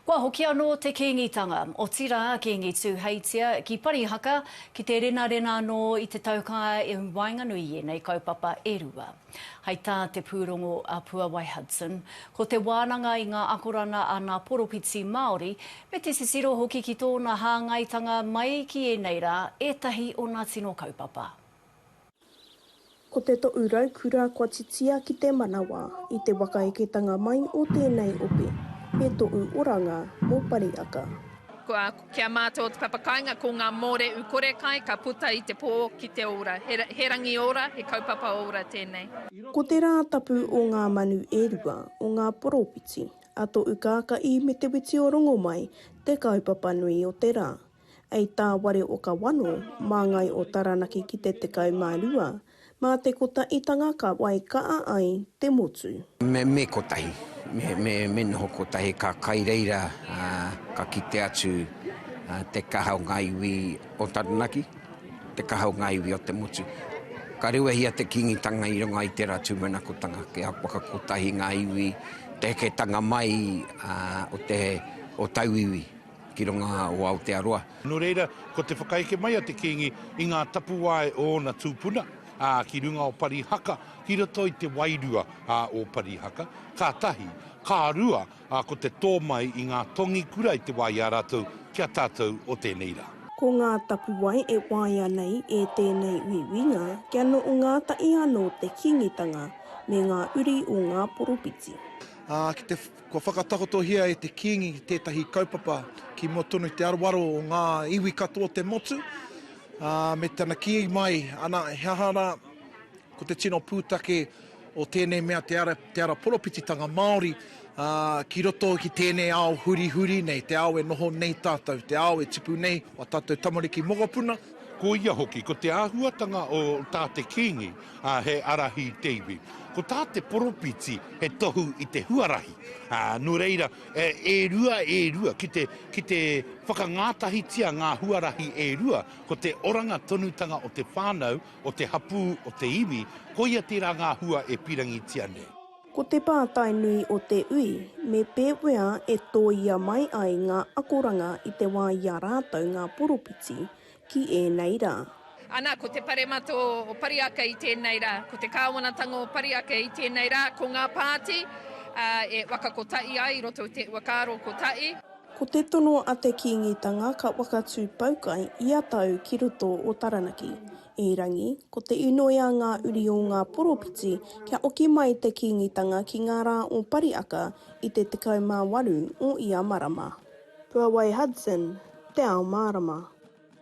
Kua hoki anō te Kīngitanga, otirā Kīngi Tūheitia, ki Parihaka, ki te renarena anō i te taukaea i waenganui i ēnei kaupapa e rua. Hai tā te pūrongo a Puawai Hudson, ko te wānanga i ngā akoranga a ngā poropiti Māori, me te titiro hoki ki tōna hāngaitanga mai ki ēnei rā, ētahi o ngā tino kaupapa. Ko te toʻu raukura kua titia ki te manawa i te wakaeketanga mai o tēnei ope, me toʻu oranga mō Pariaka. Kua kia mātou o te papa kāinga ko ngā mōreʻu kore kai ka puta i te pō ki te ora. He rangi ora, he kaupapa ora tēnei. Ko te rā tapu o ngā manu e rua, o ngā poropiti, a toʻu kākaʻi me te witi o Rongomai te kaupapa nui o te rā. Ei tā Ware o Kawano, māngai o Taranaki ki te 12, mā te kotaʻitanga ka wai kaʻa ai te motu. Me, me kotahi. Me, me, me noho kotahi ka kai reira ka kite atu te kaha o ngā iwi o Taranaki, te kaha o ngā iwi o te motu. Ka rewehia te Kīngitanga i runga i tērā tūmanakotanga kia whakakotahi ngā iwi, te heketanga mai o te, o tauiwi. Ki runga o Aotearoa. Nō reira, ko te whakaeke mai a te Kīngi i ngā tapuwae o ōna tūpuna, ā, ki runga o Parihaka, ki roto i te wairua, ā, o Parihaka, ka tahi, ka rua, ā, ko te tō mai i ngā tongi kura i te wā i a rātou ki a tātou o tēnei rā. Ko ngā tapuwae e waia nei e tēnei uiuinga kia noho ngātahi anō te Kīngitanga me ngā uri o ngā poropiti. Ā, ki te Kua whakatakotohia e te Kīngi tētahi kaupapa ki mua tonu i te aroaro o ngā iwi katoa o te motu, ā, me tana kī mai, ana, he aha rā, ko te tino pūtake o tēnei mea te ara, te ara poropititanga Māori, ā, ki roto ki tēnei ao hurihuri nei, te ao e noho nei tātou, te ao e tipu nei o ā tātou tamariki mokopuna, Ko ia hoki, ko te āhuatanga o tā te Kīngi, ā, he ārahi te iwi. Ko tā te Poropiti, he tohu i te huarahi. Ā, nō reira, e rua, e rua, ki te, ki te whakangātahitia ngā huarahi e rua, ko te oranga tonutanga o te whānau, o te hapū, o te iwi, koia tērā ngā hua e pīrangitia nei. Ko te pātai nui o te ui, me pēwea e tōia mai ai ngā akoranga i te wā i a rātou ngā poropiti ki ēnei rā? Ana, ko te paremata o Pariaka i tēnei rā, ko te kāwanatanga o Pariaka i tēnei rā, ko ngā pāti e waka kotahi ai i roto i te uakāro kotahi. Ko te tono a te Kīngitanga ka whakatū poukai ia tau ki roto o Taranaki, Erangi, ko te inoi a ngā uri o ngā poropiti kia oki mai te Kīngitanga ki ngā rā o Pariaka i te 18 o ia marama. Puawai Hudson, Te Ao Mārama.